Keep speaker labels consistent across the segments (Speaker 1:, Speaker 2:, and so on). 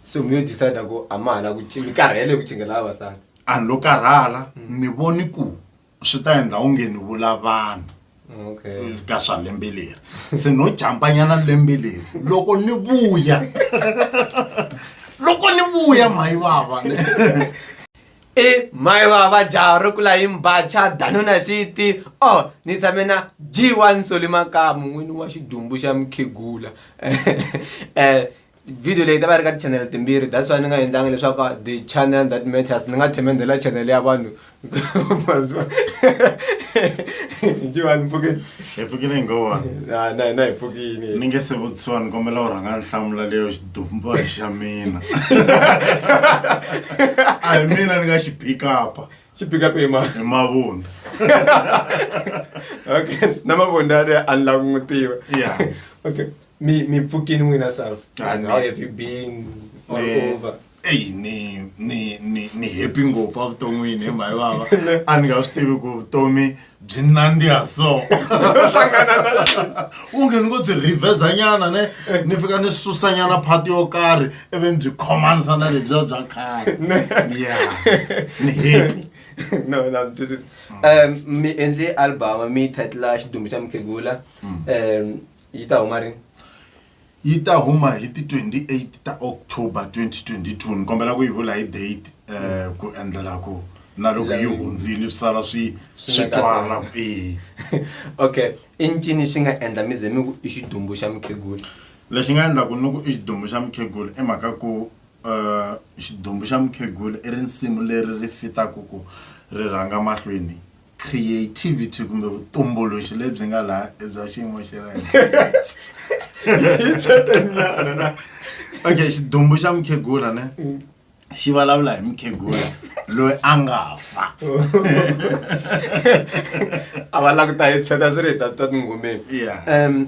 Speaker 1: so mi yo decide ku a ma ha la ku ci- mi karhele ku cingela vavasati a ni lo karhala
Speaker 2: ni voni ku swi ta endla onge ni vula vanhu okay
Speaker 1: ka swa lembe
Speaker 2: leri se no jambanyana lembe leri loko ni vuya loko ni vuya mhayi vava i
Speaker 1: mhai vava jaha ro kula hi mbacha danuna xiti o oh, ni tshame na g1 soli makamu n'wini wa xidumbu xa mukhegula eh, video leyi ta va ri ka ti-channel timbirhi that's why ni nga endlanga leswaku ah, the channel that matters ni nga themendela channel ya vanhu mazwa jiwa ni pfukile hi pfukile hi
Speaker 2: ngowani na na hi
Speaker 1: pfukile ni nge se vutisiwa ni
Speaker 2: kombela u rhanga ni hlamula leyo dumba i xa mina a hi mina ni nga xi pikapa xi pikapa hi ma
Speaker 1: hi mavunda okay na mavunda ari a ni lavi n'wi tiva yeah
Speaker 2: okay
Speaker 1: mi mi pfukini n'wina self ah, how have you been all eh, over eyi ni
Speaker 2: ni ni ni happy ngopfu evuton'wini hi mhayi vava a ni nga swi tivi ku vutomi byi nandziha so onge ni ngo byi revhezanyana ne ni fika ni susanyana phati yo karhi ivi ni byi khomanisa na lebyiya bya khale ya ni happy no no this
Speaker 1: is um mi endle album mi title xidumbu xa mukhegula mm. um yi ta huma rini yi ta
Speaker 2: huma hi ti 28 ta October 2022 ni kombela ku yi vula hi date um ku endlela ku na loko yi hundzile swi sala swi swi twala e
Speaker 1: okay i ncini xi nga endla mi ze mi ku i xidumbu xa mukhegula lexi nga endla ku
Speaker 2: ni ku i xidumbu xa mukhegula i mhaka ku um xidumbu xa mukhegula i ri nsimu leri ri fitaku ku ri rhanga mahlweni creativity kumbe vutumbuluxi lebyi nga laha i bya xiyimo xa le henhla okay xidumbu xa mukhegula ne xi vulavula hi mukhegula loyi a nga fa
Speaker 1: a va languta hi tshweta swi ri hi ta twa tingomeni Yeah. um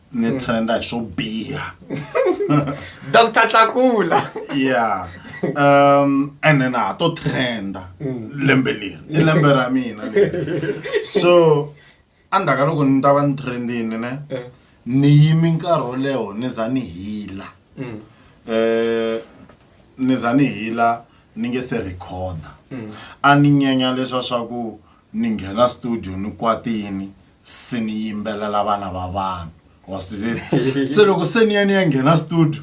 Speaker 2: ni hmm. trenda hi swo biha
Speaker 1: dr tlakula ya
Speaker 2: um ene na ha to trenda hmm. lembe leri i lembe ra mina so endzhaku ka loko ni ta va ni trendini ne eh. ni yimi nkarhi wo leho ni za ni hila um ni za ni hila ni nge se rhikhoda a ni nyenya leswa swa ku ni nghena studio ni kwatini se ni yimbelela vana va vanhu wa swi twisisa se loko se ni ya ni ya nghena studio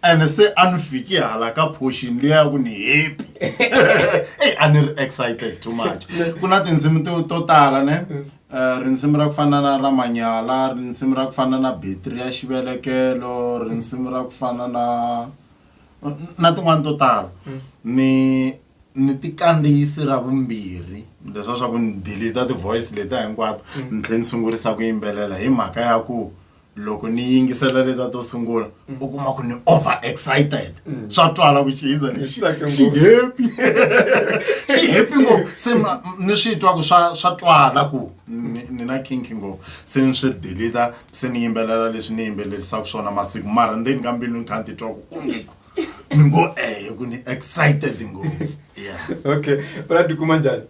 Speaker 2: ene se a ni fiki hala ka portion leyi ya ku ni happy eyi a ni ri excited too much ku na tindzimi to to tala ne Eh, rindzimi ra ku fana na ra manyala rindzimi ra ku fana na betri ya xivelekelo rindzimi ra ku fana na na tin'wani to tala ni ni ti kandziyisi ra vumbirhi leswa swa ku ni delete ti-voice letiya hinkwato mm. ni tlhela ni sungurisa ku yimbelela hi mhaka ya ku loko ni yingisela leta to sungula mm. u kuma ku ni over excited mm. swa twala ku xihiza lexi xi happy xi happy ngopfu se ni swi twa ku swa swa twala ku ni na kinki ngopfu se ni swi delita se ni yimbelela leswi ni yimbelelisaka swona masiku mara ndzeni ka mbilu ni kha ni titwa ku onge ku ni ngo ehe ku ni excited ngopfu yeah okay u la
Speaker 1: tikuma njhani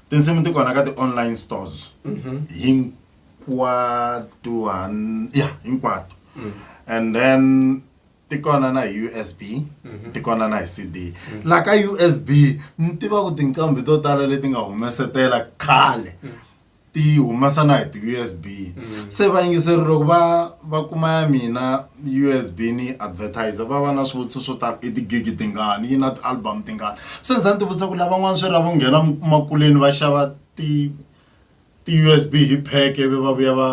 Speaker 1: tinsimu
Speaker 2: ti kona ka ti-online stores Mhm. hinkwato han- ya hinkwato Mm. and then ti kona na hi usb Mhm. ti kona na hi cd la ka usb ni tiva ku tinqambi to tala leti nga humesetela khale ti humesa na hi ti-usb mm. se vayingiseri loko va va kuma ya mina usb ni advertiser va va na swivutiso swo tala i tigigi tingani yi na ti-album tingani se ndza ni tivutisa ku lavan'wana swi ra vo nghena makuleni va xava ti ti-usb hi pheke ve va vuya va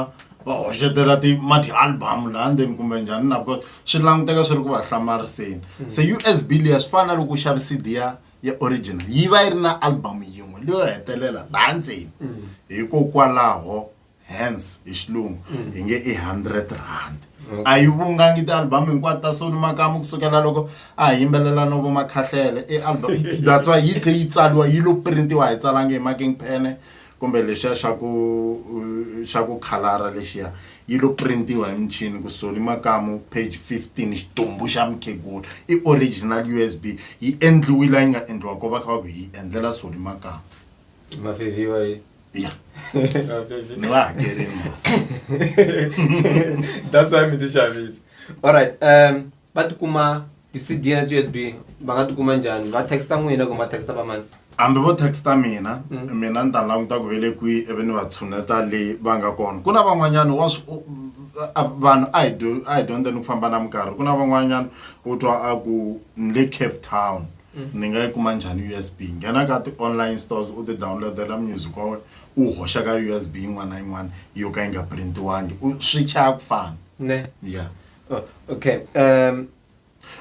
Speaker 2: va hoxetela ti ma ti-album laha ndzeni kumbe njhani na because swi languteka swi ri ku va hlamariseni mm. se usb liya swi fana na loko u xavi cd ya ya original yi va yi ri na album yin'we leyo hetelela laha ndzeni mm. hikokwalaho hence hi xilungu mm. hi nge i hundred rand a yi vungangi ti-album hinkwato ta soni makamu kusukela loko a hi yimbelela no vomakhahlele i-album that's why yi tlhe yi tsaliwa yi lo printiwa hi tsalange hi making pene kumbe lexiya xa ku xa ku khalara lexiya yi lo print-iwa hi muchini ku soni makamu page 15 xitumbu xa mukhegula i original usb yi endliwile yi nga endliwa ko va kha va ku hi endlela soni makamu mafeviwa
Speaker 1: yi ya
Speaker 2: ni va hakerini
Speaker 1: that's why mi ti xavisa all right um va tikuma ti-cd na ti-usb va nga tikuma njhani va texta n'wina kumbe va texta vamani hambi vo texta
Speaker 2: mina mm. mina ni ta languta ku vele kwihi ivi ni va tshuneta leyi va nga kona ku na van'wanyana wa vanhu a hi a hi dyondze ni ku famba na minkarhi ku na van'wanyana u twa a ku ni le cape town mm. ni nga yi kuma njhani u s b nghena ka ti-online stores u ti downloadela music wa wena u hoxa ka u s b yin'wana na yin'wana yo ka yi nga printiwangi u swi chaya ku fana ne ya yeah. oh, okay
Speaker 1: um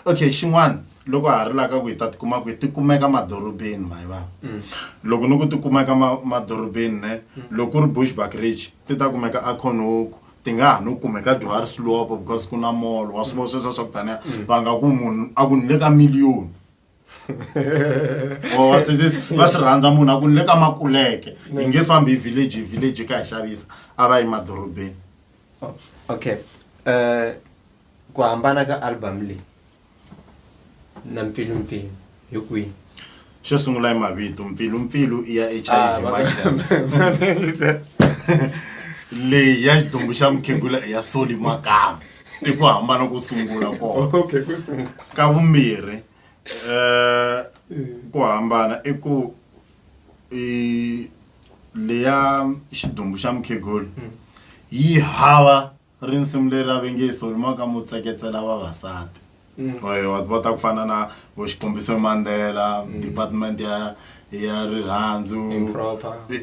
Speaker 2: okay xin'wana loko ha ri la ka ku hi ta tikuma ku hi tikumeka madorobeni mayi vava mm. loko ni ku tikumeka madorobeni ne mm. loko ku ri bush backridge ti ta kumeka aconoku ti nga ha no kumeka johari slopo because ku na molo wa swivo sweswo swa ku taniya mm. va nga ku munhu a ku ni le ka miliyoni Oh, wa swi twisisa? va swi rhandza munhu a ku ni le ka makuleke hi nge fambi hi village hi village hi ka hi xavisa a va yi madorobeni Oh,
Speaker 1: okay uh, ku hambana ka album leyi na mpfilumpfilu hi kwihi xo sungula
Speaker 2: hi mavito mpfilumpfilu i ya h Ah, i v va- Migrants. leyi ya xitumbu xa mukhegula i ya soli makamba i ku hambana ku sungula konaokay ku sungula
Speaker 1: ka vumbirhi
Speaker 2: um ku hambana i ku i leya xidumbu xa mukhegulu hmm. yi hava rinsimu leri a va nge solomaka mutseketsela vavasati mm. va vo ta ku fana na vo xikombiso mandela mm. department ya ya rirhandzu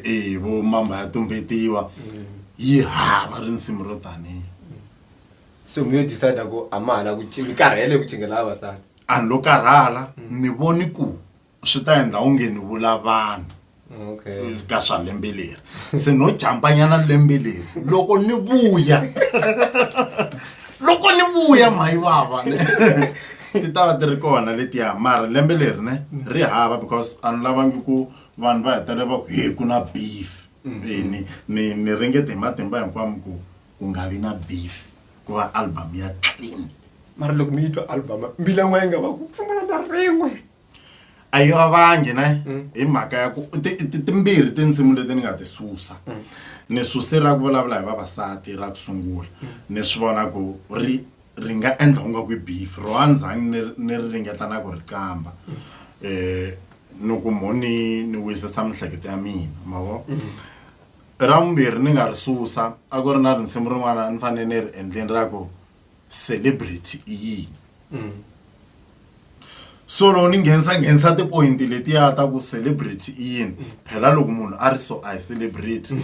Speaker 2: e vo mamba ya tumbetiwa mm. yi hava ri nsimu ro tanihi
Speaker 1: se mi yo decide ku a ma ha la ku mi karhele ku chingela vavasati a ni lo karhala
Speaker 2: ni voni ku swi ta endla onge ni vula vanhu okay.
Speaker 1: ka swa lembe
Speaker 2: leri se no jambanyana lembe leri loko ni vuya loko ni vuya mhayi vava ti ta va ti ri kona letiya mara lembe leri ne ri hava because a ni lavangi ku vanhu va hetelela va ku he ku na beef Eh, ni ni ni ringete hi matimba hinkwamo ku ku nga vi na beef ku va album ya clean mara loko mi yi
Speaker 1: twa album mbilan'we yi nga va ku pfumala na rin'we a yi
Speaker 2: vavangi ne mm. hi mhaka ya ku timbirhi tinsimu leti ni nga ti susa mm. ni suse ra ku vulavula hi vavasati ra ku sungula mm. ni swi vona ku ri ri nga endla ku nga ku beef ro andzhani ni ri ringeta na ku ri kamba um eh, ni ku mo ni ni wisisa mihleketo ya mina ma vo ra vumbirhi ni nga ri susa a ku ri na rinsimu rin'wana ni fanele ni ri endleni ra ku celebrity i yini mm. so loko ni nghenisa nghenisa tipoyinti letiya ta ku celebrity i yini mm. phela loko munhu a ri so a hi celebrity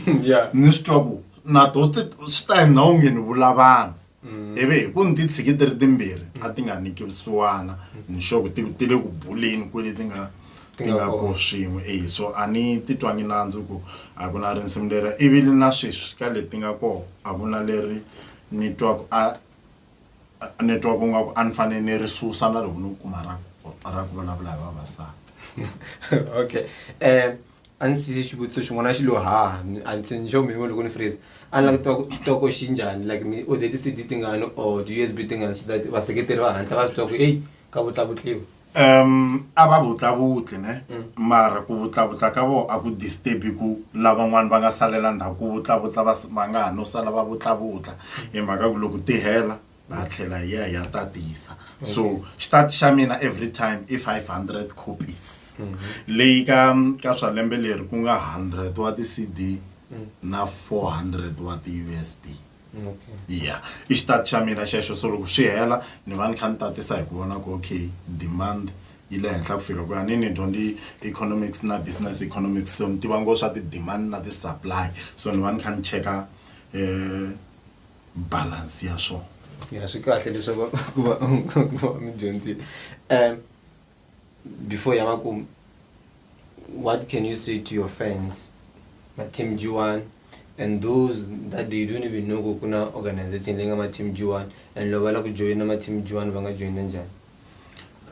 Speaker 2: ni swi twa ku na to swi ta hi na onge ni vula vanhu mm. ivi hi ku ni ti tshiki ti ri timbirhi a ti nga nikisiwana ni xoku ti ti le ku buleni kwele ti nga ti nga ko swin'we eyi so a ni titwangi nandzu ku a ku na rinsimu leri ivi li na sweswi ka leti nga kona a ku na leri ni twa ku a ni twa ku nga ku a ni fanele ni ri susa na loko ni ku kuma ra ra ku vulavula hi vavasati okay
Speaker 1: um a ni siye xivutiso xin'wana xi lo haha ni xo mi loko ni freeze a ni lava ku tiva ku xitoko xi njhani like mi order ti-cd tingani or ti-U_S_B tingani so that vaseketeri va hatla va swi tiva ku eyi ka vutlavutliwa um a
Speaker 2: va vutlavutli ne mara ku vutlavutla ka vona a ku disturbi ku lavan'wana va nga salela ndhawu ku vutlavutla va s- va nga ha no sala va vutlavutla hi mhaka ku loko ti hela va tlhela hi ya hi ya tatisa so xitati xa mina every time i 500 copies leyi ka ka swa lembe leri ku nga 100 wa ti-cd na 400 wa ti-usb ya i xitati xa mina xexo so loko swi hela ni va ni kha ni tatisa hi ku vona ku okay demand yi le henhla ku fika ku ya ni ni dyondze economics na business economics so ni tiva ngo swa ti-demand na ti-supply so ni va ni kha ni cheka um balance ya swona ya swi kahle
Speaker 1: leswaku ku va ku va mi dyondzile . before yava ku what can you say to your fans mateam g one and those that they don't even know ku na organization leyi nga mateam g one and loko va lava ku joyina mateam g one va nga joyina njhani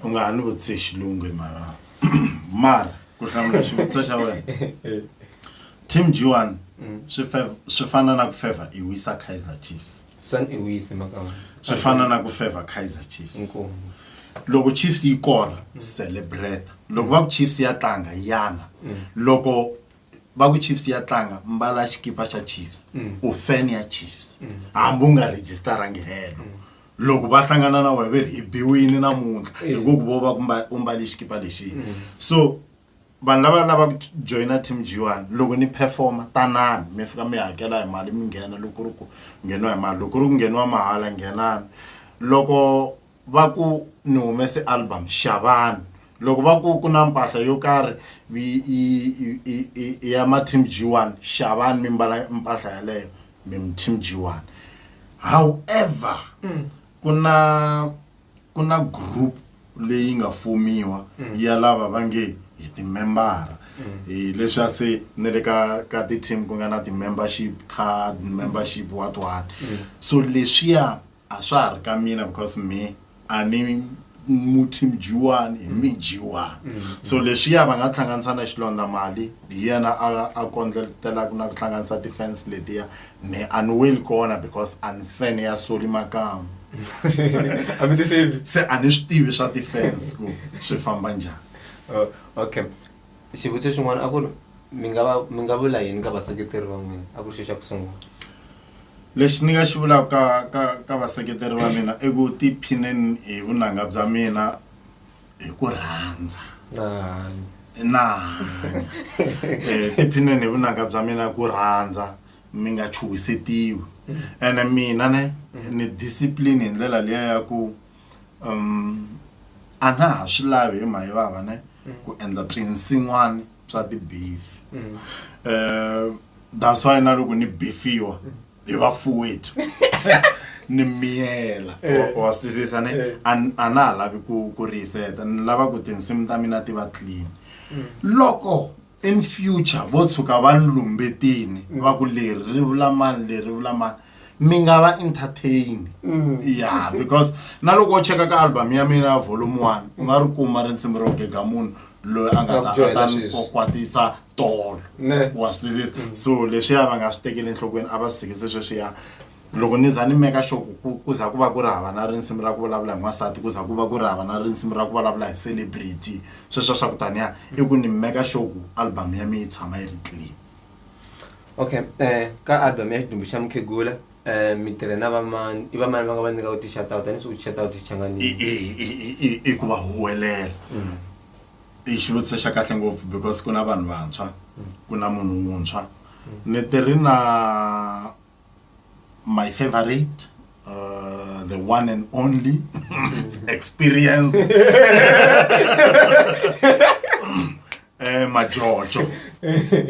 Speaker 1: u nga
Speaker 2: ha ni vutise hi xilungu hi mara mara ku hlamula xivutiso xa wena team g one mm. swi fana na ku favor i wisa kaizer chiefs Sun i wise mhaka
Speaker 1: wena. swi fana na ku
Speaker 2: favor kaizer chiefs Inkomu. loko chiefs yi kora celebrate loko va ku chiefs ya tlanga yana loko va ku chiefs ya tlanga mbala xikipa xa chiefs u fan ya chiefs hambi u nga registarangi helo loko va hlangana na wena ve ri hi biwini namuntlha hikuva vo va ku mba- u mbale xikipa lexini so vanhu lava lavaka ku joyina team g one loko ni performa tanani mi fika mi hakela hi mali mi nghena loko ku ri ku ngheniwa hi mali loko ku ri ku ngheniwa mahala nghenani loko va ku ni humese album xavani loko va ku ku na mpahla yo karhi i ya ma team g one xavani mi mbala mpahla yaleyo mi team g one however mm. ku na ku na group leyi nga fumiwa mm. ya lava va nge hi timembara mm. hi leswi a se ni le ka ka ti-team ku nga na ti-membership card membership what what mm. so leswiya a swa ha ri ka mina because me a ni muthi mjiwani hi mi jiwani so leswiya va nga hlanganisa na xilondza mali hi yena a a kondletelaka na ku hlanganisa ti-fans letiya me a ni weli kona because a ni fan ya soli makamu se a ni swi tivi swa ti-fans ku swi famba njhani oh, okay
Speaker 1: xivutiso xin'wana a ku ri mi nga va mi nga vula yini ka vaseketeri va n'wina a ku ri xo xa ku sungula
Speaker 2: lexi ni nga xi vulaka ka ka ka vaseketeri va mina i ku tiphineni hi vunanga bya mina hi ku rhandza na hanya na hanya Eh, tiphineni hi vunanga bya mina ku rhandza mi nga chuhisetiwi ene mina ne ni discipline hi ndlela liya ya ku um, a na ha swi lavi hi mhayi vava ne ku endla swinsin'wani swa tibifi um that's why na loko ni bifiwa hi vafuwethu ni miyela eh. wa swi twisisa ne eh. a na ha lavi ku ku reset ni lava ku tinsimu ta mina ti va clean mm. loko in future vo tshuka va ni lumbetini mm. va ku leri ri vula mani leri vula mani mi nga va entertain mm. ya because na loko wo cheka ka album ya mina ya volume one u nga ri kuma rinsimu ro gega munhu loyi a nga ta a ta ni kokwatisa tolo wa swi twisisa mm. so leswiya va nga swi tekeli enhlokweni a va swi sikisi sweswiya loko ni za ni meka sure ku ku za ku va ku ri hava na rinsimu ra ku vulavula hi n'wansati ku za ku va ku ri hava na rinsimu ra ku vulavula hi celebrity sweswo swa ku taniya i ku ni meka sure ku album ya mi yi tshama yi ri clean
Speaker 1: okay um ka album ya xidumbu xa mukhegula Eh, mitirhe na vamani i vamani va nga va nyikaka ti-shoutout a ni swi ku ti-shoutout ti changani
Speaker 2: i ku va huwelela mm. i xivutiso xa kahle ngopfu because ku na vanhu vantshwa ku na munhu wuntshwa ni ti ri na my favorite uh, the one and only experience eh majojo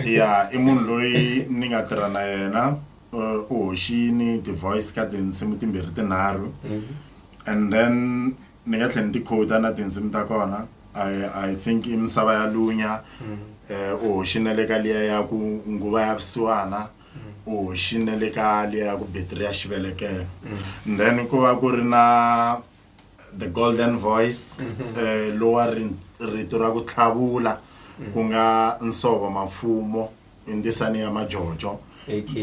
Speaker 2: ya i munhu loyi ni nga tirha na yena uh, u hoxini ti-voice ka tinsimu timbirhi tinharhu and then ni nga tlhela ni ti quota na tindzimi ta kona i i think i misava ya lunya eh, u hoxi na le ka liya ya ku nguva ya vusiwana u hoxi na le ka liya ya ku betri ya xivelekelo And then ku va ku ri na the golden voice eh, lowa ri- rito ra ku tlhavula ku nga nsovo mafumo i ndisani ya majojo aka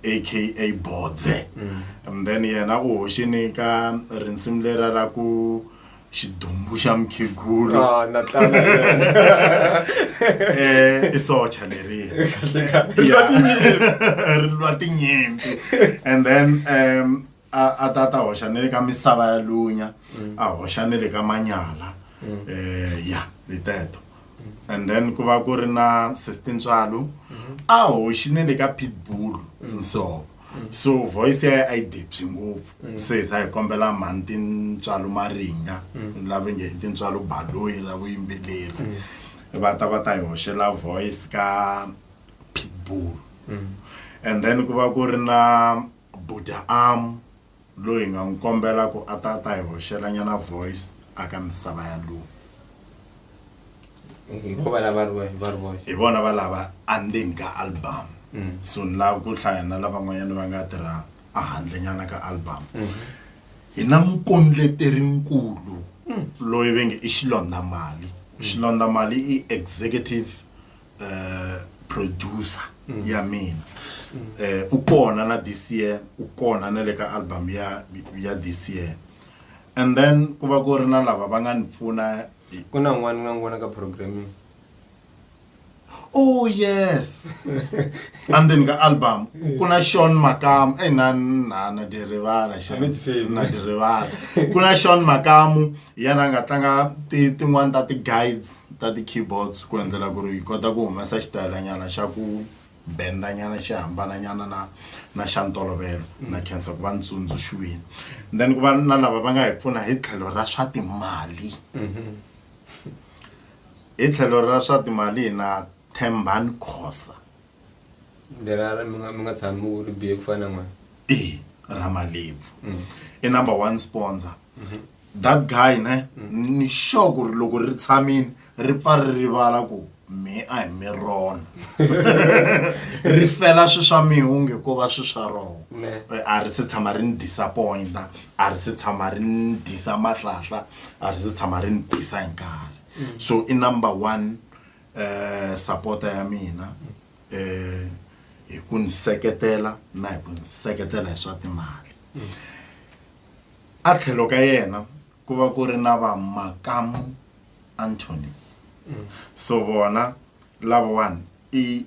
Speaker 2: aka bodze mm. and then yena u hoxini ka rinsimu lera ra ku xidumbu xa mukhegulu ah, eh, i socha leriya ri lwa tinyimpi and then um a a ta ta hoxa na le ka misava ya lunya a hoxa na le ka manyala um ya hi teto and then ku va ku ri na sister ntswalo a hoxi na le ka pitbull nsovo so voice ya a yi debyi ngopfu se hi sa hi kombela mhani tintswalo maringa lava nge i tintswalo baloyi ra vuyimbeleri va ta va ta hi hoxela voice ka pitbull and then ku va ku ri na Buda am loyi nga n'wi kombela ku a ta ta hi hoxela nyana voice aka misava ya lu hi vona va lava andzeni ka album mm. so ni lava ku hlaya na lavan'wanyana va nga tirha ahandle nyana ka album mm-hmm. hi na mukondleterinkulu mm. loyi ve nge i xilondamali mm. xilondamali i executive eh, producer mm. ya mina mm. eh, u kona na this year u kona na le ka album ya, ya this year and then ku va ku ri na lava va nga ni pfuna ku na un'wana nga
Speaker 1: n'wana ka programming
Speaker 2: oh yes and then ka album ku na sean makamu eyi eh, na na na dirivala na dirivala ku na sean makamu hi yena a nga tlanga ti tin'wani ta ti-guides ta ti-keyboards ku endlela ku ri hi kota ku humesa xitayelanyana xa ku benda nyana xi hambana nyana na na xa ntolovelo na khensa ku va ni tsundzuxiwile then ku va na lava va nga hi pfuna hi tlhelo ra swa timali hi tlhelo ra swa timali hi na Thembani Khosa.
Speaker 1: lerara mi nga mi nga tshami u ri bihe ku fana na n'wana e ra
Speaker 2: malebvu i number one sponsor that guy ne ni sure ku ri loko ri tshamini ri pfa ri rivala ku mi a hi mi rona ri fela swi swa mihunge ko va swi swa rona Ne. Eh, a ri se tshama ri ni disappointa a ri se tshama ri ni disa mahlahla a ri se tshama ri ni bisa hi nkarhi so i number one eh, sapota ya mina eh, hi ku ni seketela na hi ku ni seketela hi swa timali a tlhelo ka yena ku va ku ri na vamakamu antonis so vona lavawani i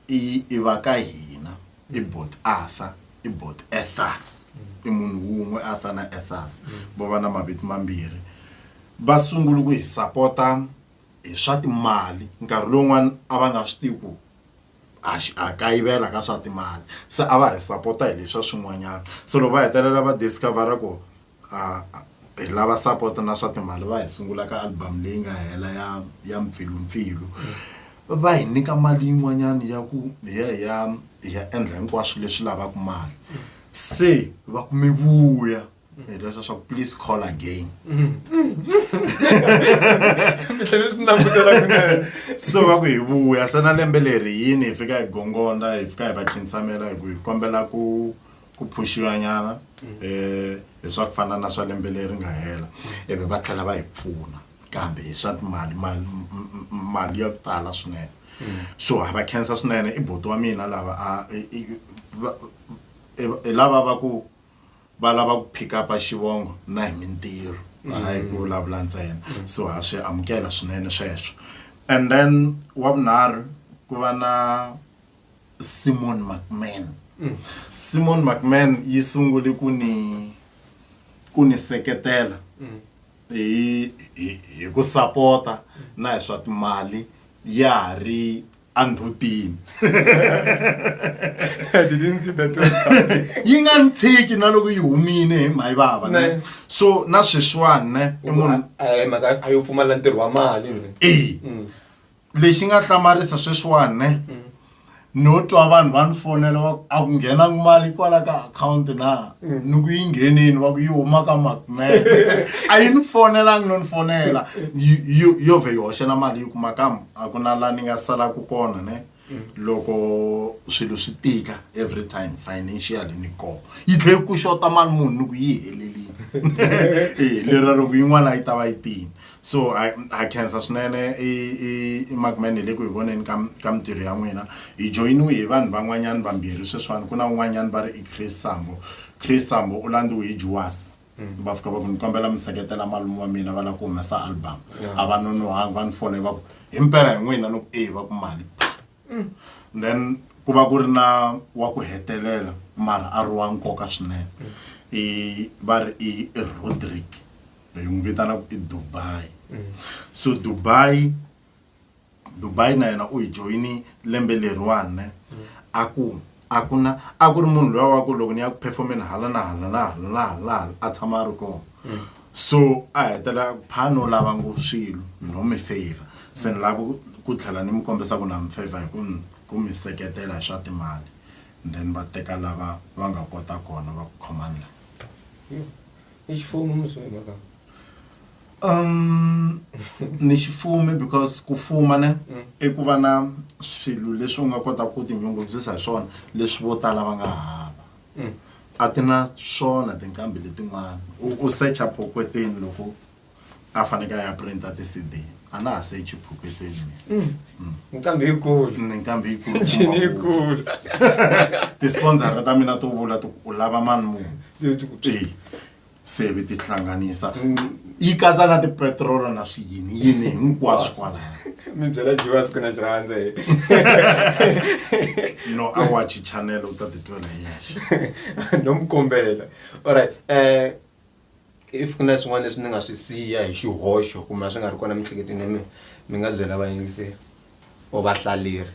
Speaker 2: i i va ka hina i bot arthur i bot ethas i munhu wun'we arthur na ethas vo va na mavito mambirhi va sungule ku hi sapota hi swa timali nkarhi lowun'wana a va nga swi tivi ku ha ha kayivela ka swa timali se a va hi sapota hi leswa swin'wanyana se loko va hetelela va discover-a ku hi lava support na swa timali va hi sungula ka album leyi nga hela ya ya mpfilumpfilu va hi nyika mali yin'wanyana ya ku hi ya hi ya hi ya endla hinkwaswo leswi lavaka mali se va ku mi vuya. Hey, that's also please call again. so va ku hi vuya se na lembe leri yini hi fika hi gongonda hi fika hi va cinsamela hi ku hi kombela ku ku phuxiwanyana um eh, hi swa ku fana na swa lembe leri nga hela ivi va tlhela va hi pfuna kambe hi swa timali mali mali ya ku tala swinene so ha va khensa swinene i boti wa mina lava a i lava va ku va lava ku pick up xivongo na hi mintirho hayi ku vulavula ntsena so ha swi amukela swinene sweswo and then wa vunharhu ku va na simon mcmahon simon mcmahon yi sungule ku ni ku ni seketela hi hi hi ku sapota na hi swa timali ya ha ri andhotini
Speaker 1: yi nga ni tshiki
Speaker 2: na loko yi humile hi mhayi vava ne so na sweswiwani ne i munhu mhaka a yo pfumala
Speaker 1: ntirho wa mali e
Speaker 2: lexi nga hlamarisa sweswiwani ne mm. no twa vanhu va ni fonela va a ku nghena mali kwala ka akhawunti na mm. ni ku yi nghenini va ku yi huma ka macman a yi ni fonelangi no ni fonela yo vhe yi hoxela mali yi kuma kama a ku na la ni nga salaku kona ne loko swilo swi tika every time financially ni koho yi tlhe yi kuxota mani munhu ni ku yi helelini e lera loko yin'wana yi ta va yi tini so ha khensa swinene i macman hi le ku hi voneni ka ka mintirho ya n'wina hi joyiniwe hi vanhu van'wanyana vambirhi sweswiwani ku na un'wanyana va ri i chris sambo chris sambo u landziwe hi juwas Mm. va fika va ku ni kombela mi seketela malume wa mina va lava ku humesa album a va nonohangi va ni fona va ku hi mpela hi n'wina ni ku e va ku mali mm. then ku va ku ri na wa ku hetelela mara a ri wa nkoka swinene mm. i va ri i rodrick hi n'wi vitana ku i dubai so dubai dubai na yena u yi joyini lembe leriwani a ku a ku na a ku ri munhu luya wa ku loko ni ya ku performeni hala na hala na hala na hala na hala a tshama a ri kona so a hetela pha no lava ngo swilo no mi favor se ni lava ku- ku tlhela ni mi kombisa ku na mi favor hi ku mi- ku mi seketela hi swa timali and then va teka lava va nga kota kona va ku khomani la i
Speaker 1: xifomu musi wena ka um
Speaker 2: ni xi fume because ku fuma ne mm. i ku va na swilo leswi u nga kotaka ku tinyungubyisa hi swona leswi vo tala va nga hava mm. a ti na swona tinqambi letin'wana u secha phokweteni loko a faneke a ya printa ti-cd a na ha sechi phokweteni mm. nqambi
Speaker 1: yikulu ni nqambi yikulutini
Speaker 2: yikulu ti-sponsora ta mina to vula ti u lava mani munhu save ti hlanganisa yi katsa na tipetrolo na swiyini yini hinkwaswo kwalaya mi byela jiwa
Speaker 1: siku na xirhandza hi
Speaker 2: no a wachi channel u ta titwela hi yexe no mi
Speaker 1: kombela alright eh if ku na swin'wana leswi ni nga swi siya hi xihoxo kumbe a swi nga ri kona mihleketweni ya mina mi nga byela vayingiseri or vahlaleri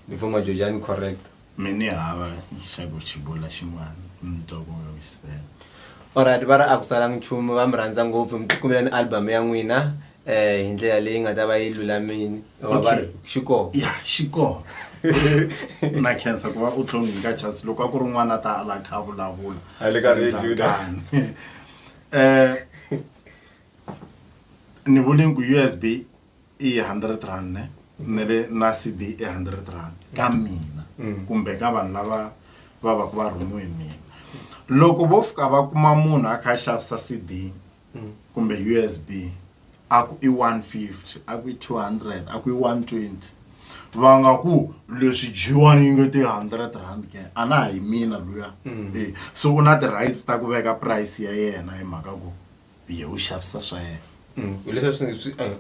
Speaker 1: before majojani correct mi ni hava
Speaker 2: xa ku xivula xin'wana mi twa ku nga wisela olright va
Speaker 1: ri a ku salangi nchumu va mi rhandza ngopfu mi tikumela ni album ya n'wina um hi ndlela leyi nga ta va yi lulamini or va ri Okay. xi koho ya xi
Speaker 2: kona na khensa ku va u tlhongi nyika chance loko a ku ri n'wana a ta ala kha a vulavula A le ka radio
Speaker 1: na.
Speaker 2: um ni vulini ku usb i hundred rand ne ne le na cd i hundred rand ka mina mm. kumbe ka vanhu lava va va ku va rhumiwe mina loko vo fika va kuma munhu a kha a xavisa cd mm. kumbe usb a ku i 150 a ku i 200 a ku i 120 va nga ku leswi dyiwani yi nge ti 100 rand ke a na hi mina luya mm. e so u na ti-rights ta ku veka price ya yena hi mhaka ku ye u xavisa swa yena Mm, leswi swi swi eh,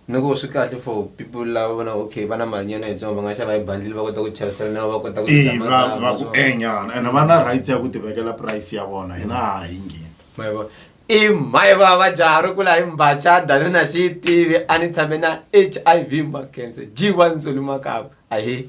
Speaker 1: ni ku swi kahle for people lava vona okay va na mali nyana yitsongo va nga xava hi bandlile va kota ku chavisela na va kota ku Eh, tshama va va va- ku so-
Speaker 2: enyana ene va na rights ya ku tivekela price ya vona hina ha hi ngheni Ma yi vona? i
Speaker 1: mhayi va va jaha ro kula hi mbacha dani na xi yi tivi a ni tshame na h i v makense g wa nzulu makava ahi